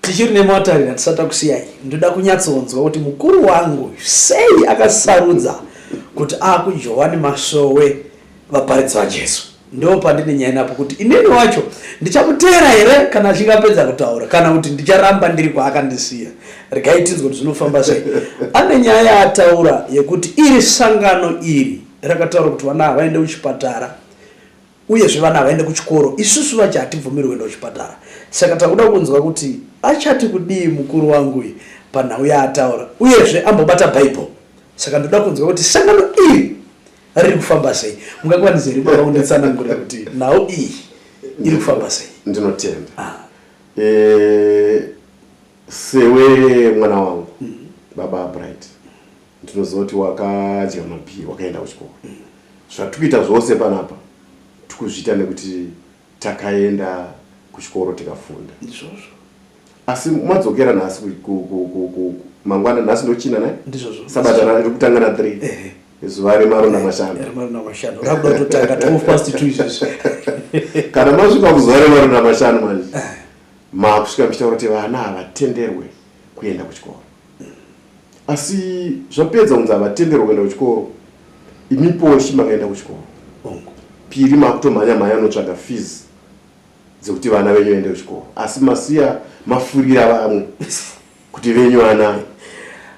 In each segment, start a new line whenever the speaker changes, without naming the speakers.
tichiri nemotari hatisati takusiyai ndoda kunyatsonzwa kuti mukuru wangu sei akasarudza kuti akujohwani masowe vaparidzi vajesu ndo pandine nyaya napo kuti inini wacho ndichamuteera here kana achinge apedza kutaura kana kuti ndicharamba ndiri kwaakandisiya regai tinzwe kuti zvinofamba sei ane nyaya yaataura yekuti iri sangano iri rakataura kuti vana havaende kuchipatara uyezve vana havaende kuchikoro isusu vacho hatibvumiri kuenda kuchipatara saka takuda kunzwa kuti achati kudii mukuru wangu uyu panhau yaataura uyezve ambobata bhaibheri saka ndoda kunzwa kuti sangano iri riri kufamba sei mungakwanise here baba kunditsanangura kuti nhau iyi iri kufamba sei ndinotenda
ah. eh, sewe mwana wangu mm. baba bright ndinoziva kuti wakadya mabhii wakaenda kuchikoro mm. zvatikuita zvose panapa tikuzviita nekuti Takaenda kuchikoro tikafunda. Ndizvozvo.
Asi
mwadzokera nhasi mangwana nhasi ndochina naye? Ndizvozvo. Sabata rake
kutanga na 3.
Ehe. Zuva remarona mashanu. Remarona mashanu. Rakuda
kutanga 12 past 2 izvezvi. Kana
masvika kuzuva remarona mashanu manje. Eh. Makusvika mchitaura kuti vana havatenderwe kuenda kuchikoro. asi zvapedza kunzi havatenderwa kuenda kuchikoro imi poshi makaenda kuchikoro piri makutomhanya mhanya anotsvaga fees dzekuti vana venyu vaende kuchikoro asi masiya mafurira vamwe kuti venyu vana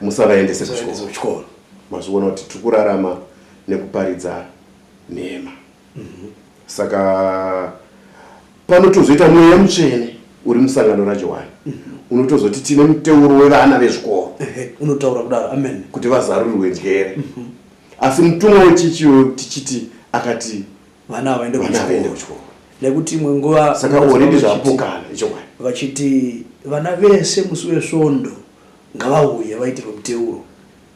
musavaendese kuchikoro mazoona kuti tiri kurarama nekuparidza nhema Mhm. saka panotozoita mweya mutsvene uri musangano rajohani mhm. unotozoti tine muteuro wevana vezvikoro unotaura kudaro
amen kuti vazarurirwe
njere mhm. asi mutumwa wechichi uyo tichiti akati vana havaende
kuchikoro nekuti imwe nguva saka oredi
zvapokana ichokwadi vachiti
vana vese musi wesvondo ngavauye vaitirwe muteuro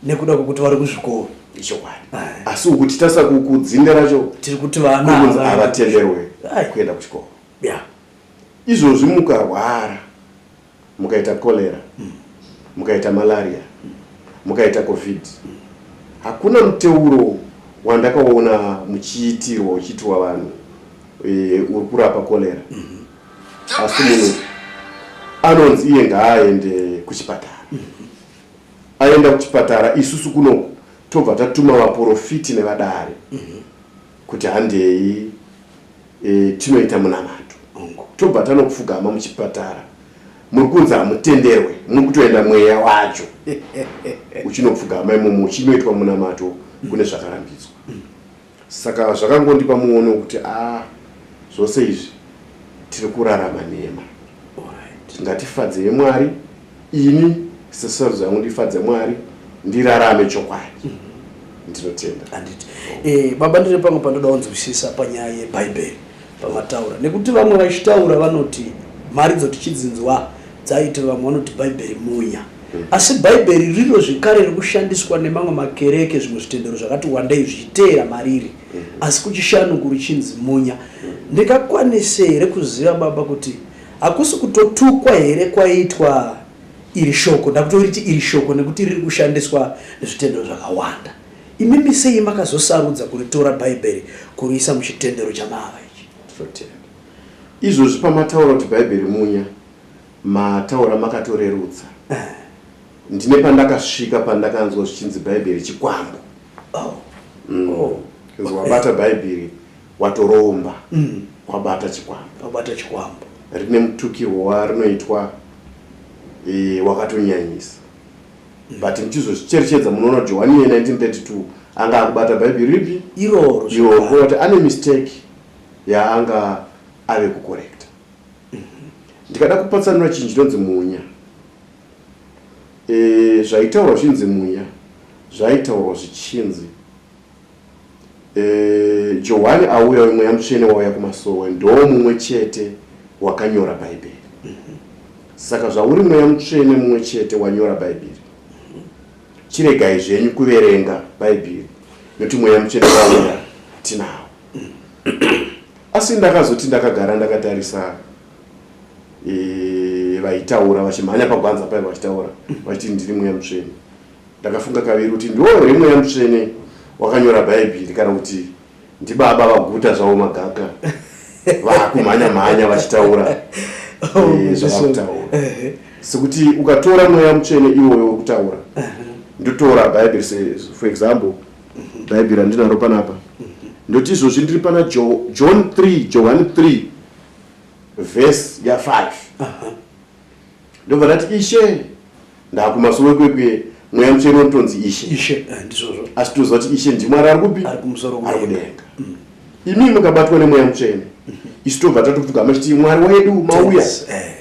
nekuda kwekuti vari kuzvikoro ichokwadi
asi ukuti tasa kudzinda racho tiri kuti vana
havatenderwe
kuenda kuchikoro ya izvozvi mukarwara mukaita cholera mm. mukaita malaria mm. mukaita covid mm. hakuna muteuro wandakaona muchiitirwa uchiitirwa vanhu e, uri kurapa cholera mm-hmm. asi munhu anonzi iye ngaaende kuchipatara mm-hmm. aenda kuchipatara isusu kunoku tobva tatuma vaporofiti nevadare kuti handei e, tinoita munamato tobva tanopfugama muchipatara muri kunzi hamutenderwe muri kutoenda mweya wacho uchinopfugama imomo uchinoitwa munamato kune zvakarambidzwa saka zvakangondipa muono wekuti a ah, zvose izvi tiri kurarama nema ngatifadze yemwari ini sesarudzo yangu ndifadze mwari ndirarame chokwadi mhm. ndinotenda anditi eh,
baba ndine pamwe pandoda kunzwisisa panyaya yebhaibheri pamataura nekuti vamwe vachitaura vanoti mari dzotichidzinzwa Dzaiti vamwe vanoti Bhaibheri munya. Hmm. Asi Bhaibheri riro zvekare riri kushandiswa nemamwe makereke zvimwe zvitendero zvakati wandei zvichiteera mariri. Hmm. Asi kuchishanuku richinzi munya. Ndingakwanise here kuziva baba kuti hakusi kutotukwa here kwaitwa iri shoko ndakutoriti iri shoko nekuti riri kushandiswa nezvitendero zvakawanda imimi sei makazosarudza kuritora bhaibheri kuriisa muchitendero chamava ichi
Izvozvi pamataura kuti Bhaibheri munya, mataura makatorerutsa. Ndine pandakasvika pandakanzwa zvichinzi Bhaibheri chikwambo. Oh. Mm. Oh. Kunzi wabata Bhaibheri watoromba mm. kwabata chikwambo. Kwabata chikwambo.
Rine mutukirwo
warinoitwa e, wakatonyanyisa. Mm. But muchizozvicherechedza munoona Johani ye 1932 anga akubata Bhaibheri ripi? Iroro. Iroro.
Ane
mistake. yaanga ave kukorekta ndikada kupatsanura chinhu chinonzi munya e, zvaitaurwa zvinzi munya zvaitaurwa zvichinzi e, johani auya wemweya mutsvene wauya kumasowe ndoo mumwe chete wakanyora bhaibheri saka zvauri mweya mutsvene mumwe chete wanyora bhaibheri chiregai zvenyu kuverenga bhaibheri nokuti mweya mutsvene wauya tinawo Asi ndakazoti ndakagara ndakatarisa eh, vaitaura vachimhanya pagwanza paiva vachitaura vachiti ndiri mweya mutsvene. Ndakafunga kaviri kuti ndiwo here mweya mutsvene wakanyora bhaibheri kana kuti ndibaba vaguta zvavo magaka vakumhanya mhanya vachitaura eh, zvavakutaura sekuti ukatora mweya mutsvene iwoyo wekutaura ndotora bhaibheri for example bhaibheri randinaro panapa ndoti izvozvi ndiri pana john 3 johani 3 vhesi ya5 ndobva ndati ishe ndakumasowe kwekuye mweya mutsvene unotonzi ishe ishe eh, ndizvozvo asi toziva
kuti ishe
ndimwari ari kupi ari kumusoro ari kudenga mm. imii mukabatwa nemweya mutsvene mm-hmm. isu tobva tatopfugama chiti mwari wedu mauya eh.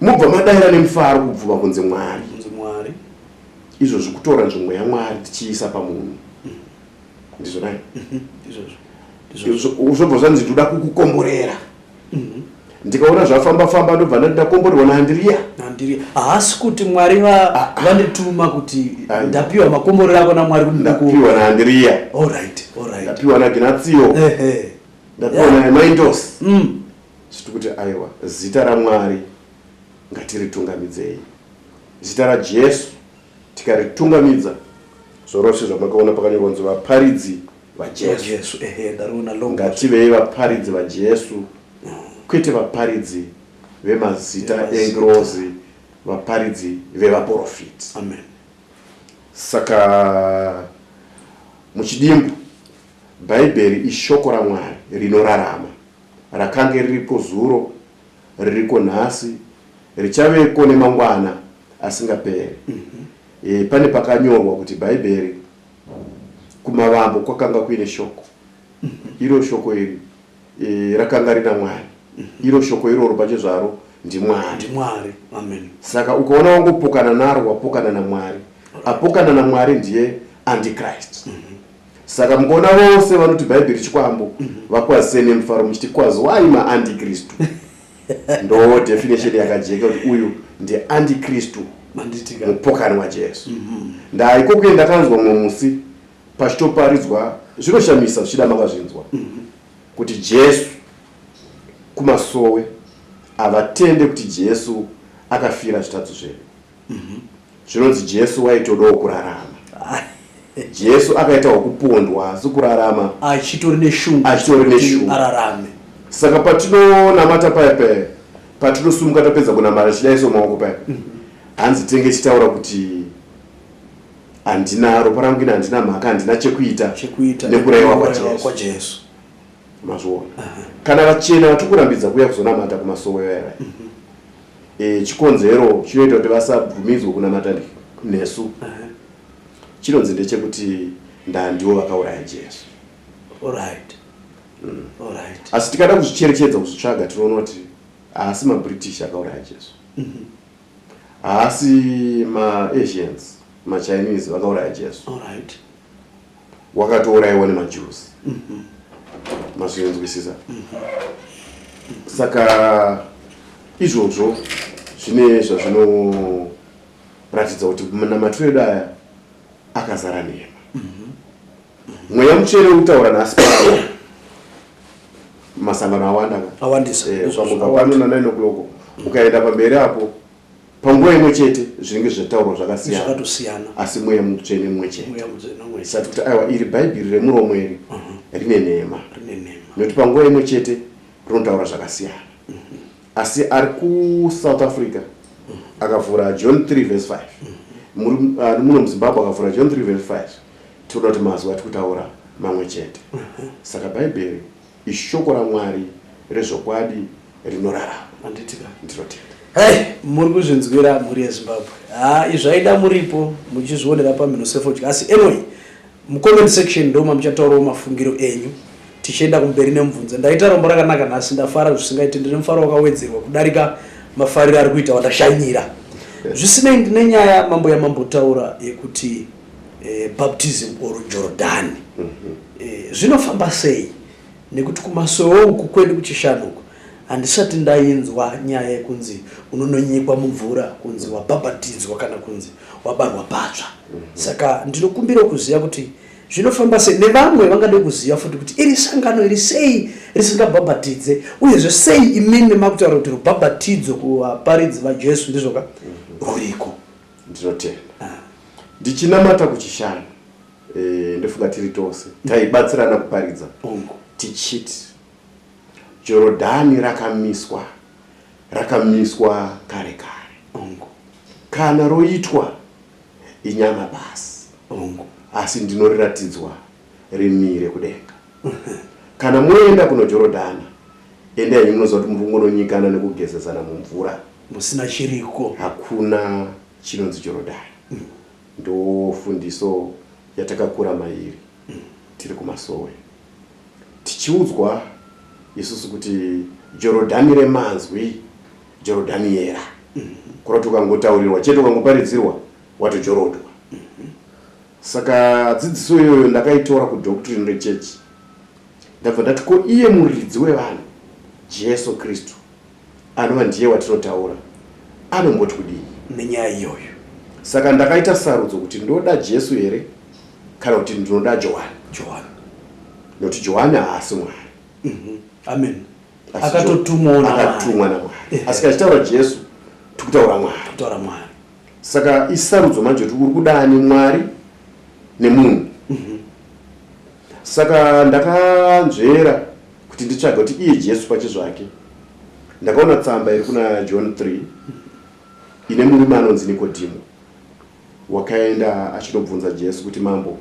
mubva madaira nemufaro kubvuma kunze mwari izvozvi kutora nzvimbo yamwari tichiisa pamunhu ndizvo nai zvobva zvanzi ndoda kukukomborera mhm. ndikaona zvafamba famba ndobva ndati ndakomborerwa naandiriya andiriya haasi
kuti mwari ah, ah. vandituma kuti ah, ndapiwa makomborero ako namwari kuti ndapiwa naandiriya
ndapiwa naginatsiyo ndapiwa namaindos mm. zviti kuti aiwa zita ramwari Ngatiritungamidzei zita raJesu. Tikaritungamidza zvorose zvamakaona pakanyorwa kunzi vaparidzi vaJesu. Ngativei vaparidzi vaJesu mm. kwete vaparidzi vemazita engirozi, vaparidzi vevaprofiti. Amen.
Saka
muchidimbu Bhaibheri ishoko raMwari rinorarama rakange riripo zuro ririko nhasi richaveko nemangwana asingaperi mm -hmm. e, pane pakanyorwa kuti bhaibheri kumavambo kwakanga kuine shoko mm -hmm. iro shoko iri e, rakanga rina mwari mm -hmm. iro shoko iroro pachezvaro ndimwari mwari amen
saka ukaona
wangopokana naro wapokana namwari apokana namwari ndiye antichrist mm -hmm. saka mukaona vose vanoti bhaibheri chikwambo vakwazise nemufaro muchiti kwazi wai maandikristu ndo definition yakajeka kuti uyu ndiandikristu mupokani wajesu mhm. ndaikokuye ndakanzwa mumwe musi pachitoparidzwa zvinoshamisa zvichida makazvinzwa mhm. kuti jesu kumasowe havatende kuti jesu akafira zvitadzi zvedu Mhm. Zvinonzi Jesu waitodawo kurarama. Jesu akaita hokupondwa asi kurarama achitori neshungu
achitori neshungu ararame. Saka
patinonamata paya paya patinosumuka tapedza kunamata chidaiso maoko paya. Mhm. Hanzi tenge chitaura kuti handina ropa rangu ina handina mhaka handina chekuita nekuraiwa kwaJesu. Mazviona. Kana vachena vatikurambidza kuya kuzonamata kumasowe yaya. Mhm. e, chikonzero chinoita kuti vasabvumidzwe kunamata nesu chinonzi ndechekuti ndandiwo vakauraya jesu Alright. Mm. Alright. asi tikada kuzvicherechedza kuzvitsvaga tinoona kuti haasi mabritish akauraya jesu Mhm. haasi maasians machinese vakauraya jesu Alright. wakatouraiwa nemajusi mm-hmm. mazvinzwisisa mm-hmm. saka izvozvo zvine zvazvinoratidza kuti namatiro edu aya akazara nhema mm-hmm. mweya mutsvene ukutaura nhasi pao masangano awanda awandisa
eh, pano na9
o'clock ukaenda pamberi apo panguva imwe chete zvinenge zvataurwa zvakasiyana asi mweya mutsvene mumwe chetesati kuti aiwa iri bhaibheri remuromo iri uh-huh. rine nhema nekuti panguva imwe chete rinotaura zvakasiyana uh-huh. asi ari kusouth africa uh-huh. akavhura john 3 vs 5 ari muno muzimbabwe akavhura john 3 vs 5 tinoda kuti mazwi ati kutaura mamwe chete saka bhaibheri Ishoko raMwari rezvokwadi rinorarama. Manditika ndinotenda.
Hey, muri kuzvinzwira mhuri yezimbabwe ha izvaida muripo muchizvionera pamhino sefodya asi anyway mucomment section ndoma muchataurawo mafungiro enyu tichienda kumberi nemubvunzo ndaita rombo rakanaka nhasi ndafara zvisingaiti ndine mufaro wakawedzerwa kudarika mafariro ari kuita wandashanyira zvisinei ndine nyaya mambo yamambotaura yekuti e, baptism or jordani mm -hmm. e, eh, zvinofamba sei nekuti kumasowe uku kwedu kuchishanu uku handisati ndainzwa nyaya yekunzi unononyikwa mumvura kunzi wabhabhatidzwa kana kunzi wabarwa patsva mm -hmm. saka ndinokumbira kuziva kuti zvinofamba sei nevamwe vangade kuziva futi kuti iri sangano iri sei risingabhabhatidze uyezve sei imimi makutaura kuti rubhabhatidzo kuvaparidzi vajesu ndizvoka mhm. ruriko mm -hmm. ndinotenda
ndichinamata kuchishanu e, eh, ndofunga tiri tose taibatsirana kuparidza tichiti jorodhani rakamiswa rakamiswa kare kare kana roitwa inyama basi asi ndinoriratidzwa rimire kudenga kana moenda kunojorodhana endai munoziva kuti muri kungononyikana nekugezesana mumvura musina chiriko
hakuna
chinonzi jorodhani mm. ndofundiso yatakakura mairi mm. tiri kumasowe tichiudzwa isusu kuti jorodhani remanzwi jorodhani yera mm. kurati ukangotaurirwa chete ukangoparidzirwa watojorodhwa Saka dzidziso iyoyo ndakaitora kudoctrine rechechi ndabva ndati ko iye muridzi wevanhu jesu kristu anova ndiye watinotaura anomboti kudii nenyaya iyoyo
saka ndakaita
sarudzo kuti ndoda jesu here kana kuti ndinoda johani johani nokuti johani haasi mwari mhm. amen
akatotumwa namwari
asi kachitaura jesu tikutaura mwari saka isarudzo manje kuti uri kuda ani mwari nemunhu mhm. saka ndakanzvera kuti nditsvaga kuti iye jesu pache zvake ndakaona tsamba iri kuna john 3 ine murume anonzi nikodhimo wakaenda achinobvunza jesu kuti mambo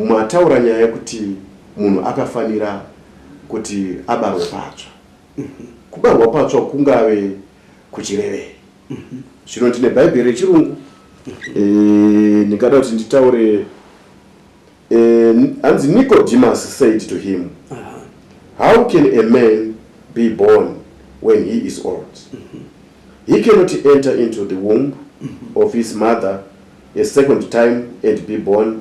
mataura nyaya yekuti munhu akafanira kuti abarwe patsva mhm. kubarwa patsva kungave kuchirevei zvino ndine bhaibheri rechirungu eh, ndingada kuti nditaure eh, hanzi nicodemus said to him how can a man be born when he is old he cannot enter into the womb of his mother a second time and be born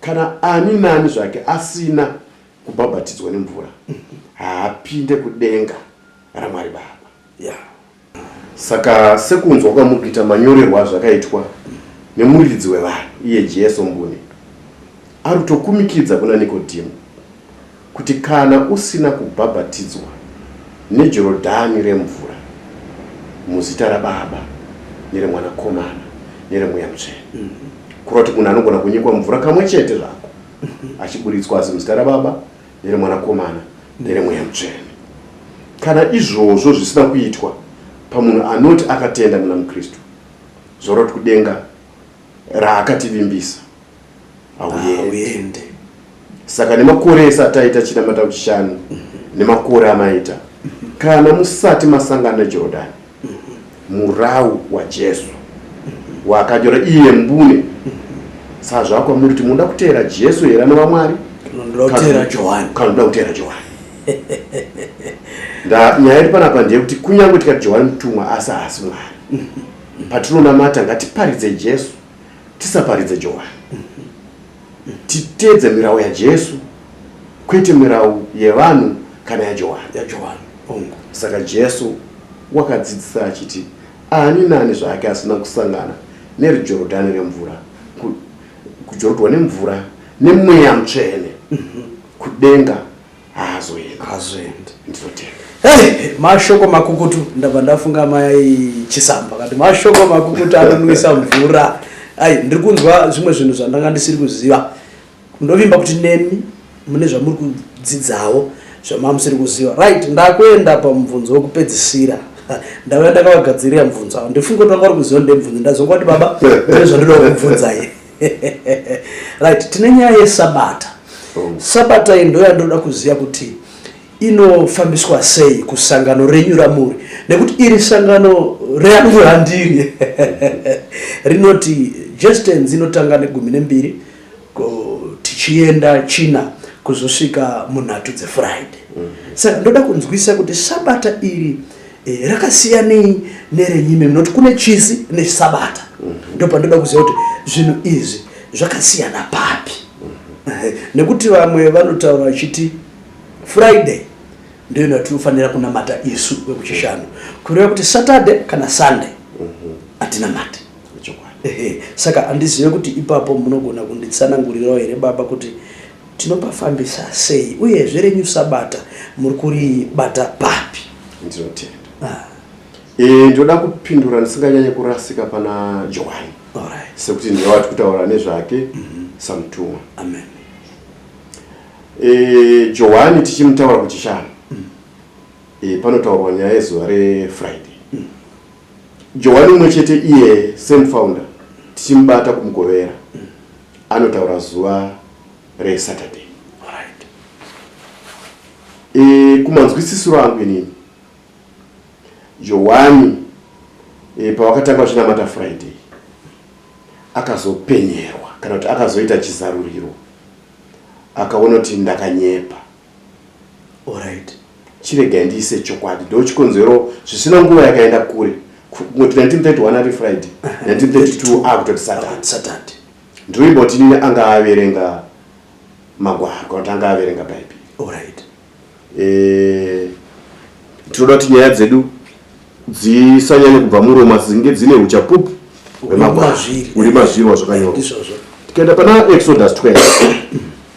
Kana ani naani zvake asina kubhabhatidzwa nemvura haapinde kudenga raMwari Baba. Yeah. Saka sekunzwa kwamukuita manyorerwa azvakaitwa nemuridzi wevanhu iye Jesu mbune ari kutokumikidza kuna Nikodhimu Kuti kana usina kubhabhatidzwa neJorodhani remvura, muzita raBaba, nereMwanakomana, nereMweya Mutsvene, mm-hmm. kureva kuti munhu anogona kunyikwa mvura kamwe chete zvako, mm-hmm. achiburitswa asi muzita raBaba, nereMwanakomana, nereMweya Mutsvene. Kana izvozvo zvisina kuitwa pamunhu anoti akatenda muna muKristu, zoroti kudenga raakativimbisa hauende saka nemakore ese ataita chinamata kuchishanu nemakore amaita kana musati masangana nejorodhani murau wajesu wakanyora iye mbune saa zvakwamuri kuti munoda kuteera jesu here ana vamwari kanoda kuteera johani nyaya iri panapa ndeyekuti kunyange tikati johani mutumwa asi haasi mwari patinonamata ngatiparidze jesu tisaparidze johani titeedze mirau yajesu kwete mirau yevanhu kana yajohani yajohani ongo saka jesu wakadzidzisa achiti ani nani zvake asina kusangana nerijorodhani remvura kujorodhwa nemvura nemweya mutsvene mhm. kudenga haazoendi ndinotenga
Hey, mashoko makukutu ndabva ndafunga mai chisamba kati mashoko makukutu anonwisa mvura ai ndiri kunzwa zvimwe zvinhu zvandanga ndisiri kuziva ndovimba kuti nemi mune zvamuri kudzidzawo zvamamusiri kuziva right ndakuenda pamubvunzo wekupedzisira ndave ndakavagadzirira mubvunzo avo ndifunge kuti vanga vari kuziva ndemubvunzo ndazonga kuti baba ndezvandinoda kubvunzai right tine nyaya yesabata oh. sabata iyi ndo yandoda kuziva kuti inofambiswa sei kusangano renyu ramuri nekuti iri sangano reangu handiri rinoti jestens inotanga negumi nembiri tichienda china kuzosvika munhatu dzefriday mm -hmm. saka ndoda kunzwisa kuti sabata iri Eh, rakasiyanei nerenyu imimi noti kune chisi nechisabata mhm. ndopandinoda kuziva kuti zvinhu izvi zvakasiyana papi mhm. eh, nekuti vamwe vanotaura vachiti friday ndiyo yatinofanira kunamata isu vekuchishanu kureva kuti saturday kana sunday mhm. hatinamati saka handizive kuti ipapo munogona kunditsanangurirawo here baba kuti Tinopafambisa sei uyezve renyu sabata muri kuribata papi? Ndinotenda.
Ah. E, ndoda kupindura ndisinganyanye kurasika pana Johani right. sekuti
ndiye wati
kutaura nezvake mm -hmm. samutumwa. Amen.
E,
Johani tichimutaura kuchishanu mm. e, panotaurwa nyaya yezuva reFriday mm. Johani umwe chete iye same founder tichimubata kumugovera anotaura zuva resaturday right.
e,
kumanzwisisiro angu inini johwani e, pavakatanga vachinamata friday akazopenyerwa kana kuti akazoita chizaruriro akaona kuti ndakanyepa
Alright. Chirega
ndiise chokwadi ndochikonzero zvisina nguva yakaenda kure. Kungoti 1931 ari Friday, 1932 akutoti Saturday. Saturday. Ndirimboti nini anga averenga magwaro kana kuti anga averenga Bhaibheri. Alright. Eh tinoda kuti nyaya dzedu dzisanyanye kubva muromo asi dzinge dzine uchapupu hwemagwaro uri mazvirwa zvakanyorwa. Tikaenda pana Exodus 12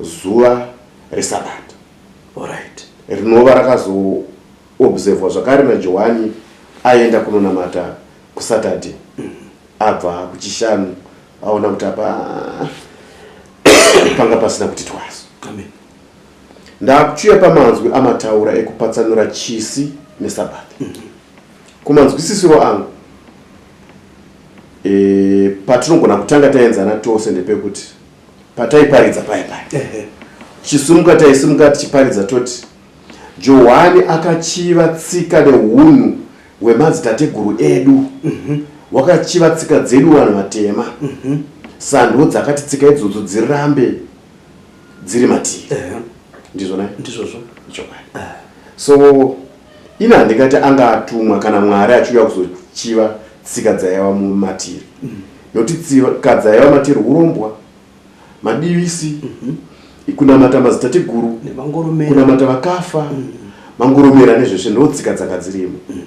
zuva reSabata. Alright.
Rinova
rakazoobservwa zvakare naJohani aenda kunonamata kuSaturday. Abva kuChishanu aona kuti apa panga pasina kuti twaso. Amen. Ndakuchiuya pamanzwi amataura ekupatsanura chisi neSabata. Kumanzwisisiro angu e, patinogona kutanga taenzana tose ndepekuti pataiparidza paya paya chisimuka taisimuka tichiparidza toti johani akachiva tsika neunhu hwemadzitateguru edu mhm. wakachiva tsika dzedu vanhu vatema mhm. sando dzakati tsika idzodzo dzirambe dziri matii ndizvona ndizvozvo
chokwadi ah.
so Ini handingati anga atumwa kana Mwari achiuya kuzochiva tsika dzaiva mumatiri mm. nokuti tsika dzaiva matiri urombwa madivisi mm -hmm. kunamata mazitateguru kunamata vakafa mm -hmm. mangoromera nezveshe ndo tsika dzanga dzirimo mm.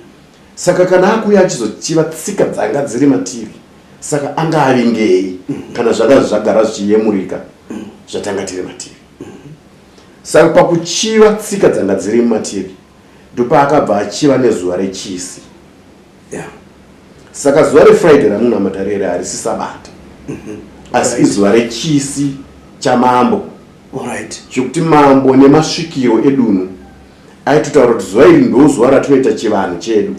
saka kana akuya achizochiva tsika dzanga dziri matiri saka anga avingei mm. kana zvanga zvagara zvichiyemurika mm. zvatanga tiri matiri Saka pakuchiva tsika dzanga dziri mumativi ndopaakabva achiva nezuva rechisi yeah. saka zuva refriday ramunamata rere harisi sabata mm -hmm. asi right. izuva rechisi chamambo right.
zvekuti mambo
nemasvikiro edunhu aitotaura kuti zuva iri ndozuva ratinoita chivanhu chedu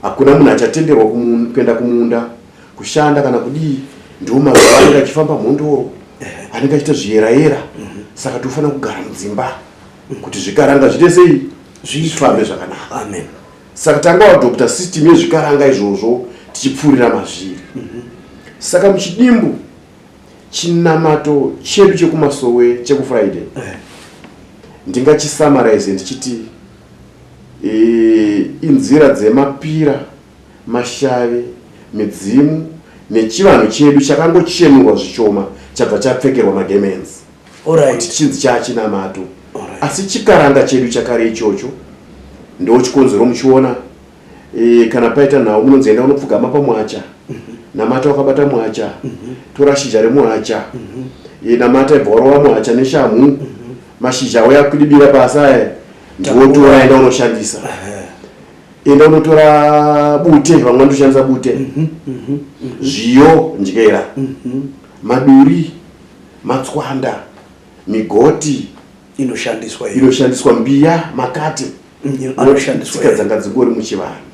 hakuna munhu achatenderwa kuenda kumunda kushanda kana kudii ndiwo mazuva anenge achifamba mhondoro anenge achiita zviyerayera mhm. saka tinofanira kugara mudzimba mhm. kuti zvikaranga zviite sei zvifambe zvakanaka amen
saka tanga
wadokta system yezvikaranga izvozvo tichipfuurira mazviri mhm. saka muchidimbu chinamato chedu chekumasowe chekufriday eh. ndingachisamarize ndichiti eh, inzira dzemapira Mashave, midzimu nechivanhu chedu chakangochenurwa zvichoma chabva chapfekerwa magemenzi kuti chinzi chaachinamato asi chikaranga chedu chakare ichocho ndo chikonzero muchiona e, kana paita nhau munonzi enda unopfugama pamwacha mhm. namata wakabata mwacha mhm. tora shizha remwacha mhm. e, namata ibva warova mwacha neshamhu mashizha awo yakudibira pasi aya ndiwotora enda unoshandisa enda unotora bute vamwe vanotoshandisa bute mhm, mhm, mhm. zviyo ndyera maduri matswanda migoti inoshandiswa inoshandiswa mbiya makati mm, anoshandiswa
dzanga dzingori
muchivanhu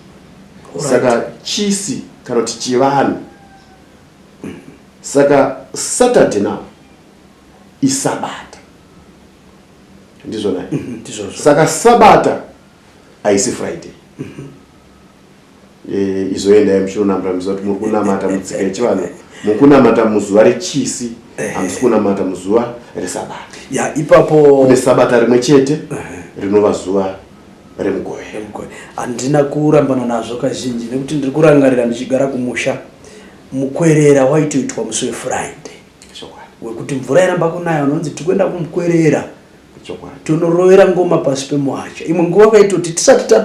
saka chisi kana kuti chivanhu saka saturday now isabata ndizvona ndizvozvo saka sabata aisi friday e, izoendai muchinonamata muziva kuti muri kunamata mutsika yechivanhu muri kunamata muzuva rechisi eh. hamusi kunamata muzuva resabata ya ipapo kune
sabata rimwe
chete eh. rinova zuva remugove handina
kurambana nazvo kazhinji nekuti ndiri kurangarira ndichigara kumusha mukwerera waitoitwa musi wefriday wekuti mvura iramba kunaya unonzi tikuenda kumukwerera tonorovera ngoma pasi pemuhacha imwe nguva vaitoti tisati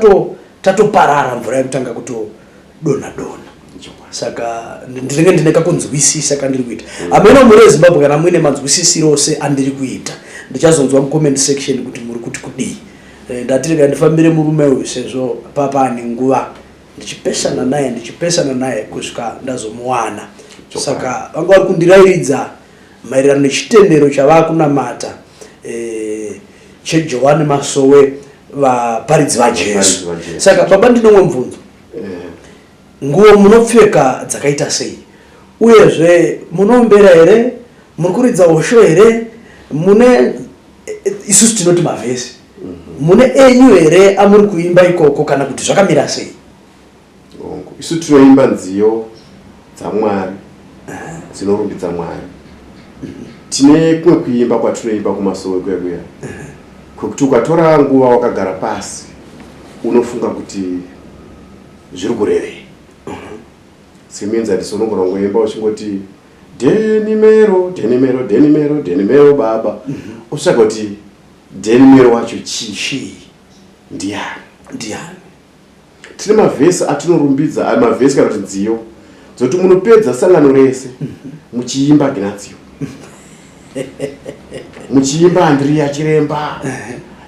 tatoparara mvura yekutanga kutodona dona saka ndinenge ndine kakunzwisisa kandiri kuita mm. ameno muri ezimbabwe kana muine manzwisisiro ose andiri kuita ndichazonzwa mucomment section kuti muri kuti kudii eh, ndatirega ndifambire murume uyu sezvo papa ane nguva ndichipesana naye ndichipesana naye kusvika ndazomuwana saka vanga vari kundirairidza Maererano nechitendero chavakunamata eh, cheJohani Masowe vaparidzi vaJesu. Saka baba ndinomwe mvunzo. Eh. Nguwo munopfeka dzakaita sei? Uyezve munombera here? Muri kuridza hosho here? Mune eh, isusu tinoti mavhesi. Mhm. Mune enyu here amuri kuimba ikoko kana kuti zvakamira sei? hongu
isu tinoimba nziyo dzamwari dzinorumbidza mwari tine kumwe kuimba kwatinoimba kumasowe kuya kuya kwekuti ukatora nguva wakagara pasi unofunga kuti zviri kurevei semenzi handisi unogona kungoimba uchingoti denimero denimero denimero denimero baba utsvaga kuti denimero wacho chii ndiani ndiani tine mavhesi atinorumbidza ah, mavhesi kana kuti nziyo dzoti munopedza sangano rese muchiimba ginatsio muchiimba andriya chiremba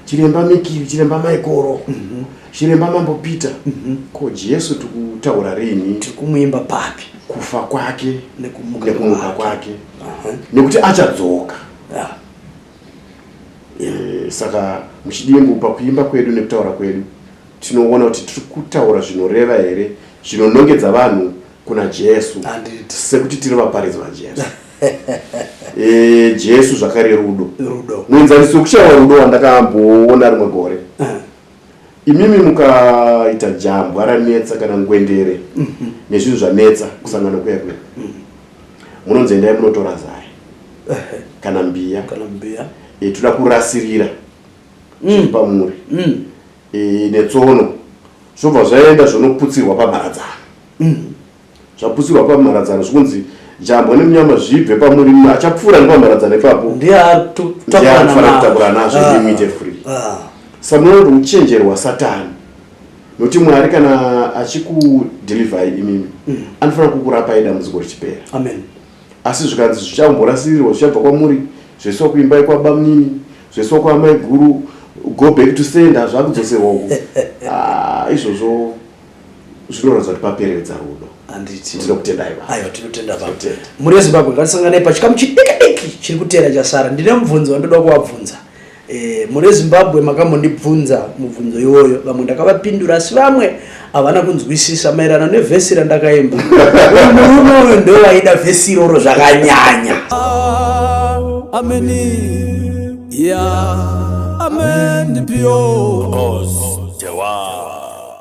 chiremba mikiri chiremba maikoro chiremba mambo peter ko jesu tikutaura rini tiri kumuimba papi
kufa kwake
nekumuka kwake nekuti achadzoka yeah. Eh, saka muchidimbu pakuimba kwedu nekutaura kwedu tinoona kuti tiri kutaura zvinoreva here zvinonongedza vanhu kuna jesu sekuti tiri vaparidzi vajesu e, jesu zvakare rudo muenzaniso kuchaiwa rudo wandakaamboona rimwe gore eh. imimi mukaita jambwa ranetsa kana ngwendere mhm. nezvinhu zvanetsa kusangana kuya kuya mhm. munonzi endai munotora zai kana mbiya e, toda kurasirira mm. zviri pamuri mm. e, netsono zvobva zvaenda zvonoputsirwa pamharadzano mm. zvaputsirwa pamharadzano zvikunzi jambwa nemunyama zvibve pamuri mumwe achapfuura nepamharadzano ipapo ndiye anofanira kutakura nazvo ah, ndimuite free ah. samunoona kuti uchenjeri hwasatani nokuti mwari kana achikudhilivhai imimi mm. anofanira kukurapai dambudziko richipera
asi zvikanzi
zvichamborasirirwa zvichabva kwamuri zvaiswa kuimbai kwabamunini zvaiswa kwaamai guru go back to send hazvakudzoserwa uku ah, izvozvo zvinoratidza kuti paperevedza rudo handiti tinokutendai baba aiwa tinotenda baba Tinotenda.
mhuri yezimbabwe ngatisanganei pachikamu chidikidiki chiri kuteera chasara ndine mubvunzo wandoda kuvabvunza Eh, mhuri yezimbabwe makambondibvunza mubvunzo iwoyo vamwe ndakavapindura asi vamwe havana kunzwisisa maererano nevhesi randakaimba Uyu murume uyu ndowaida vhesi iroro zvakanyanya ameni ya ameni pio Oz, Dewa.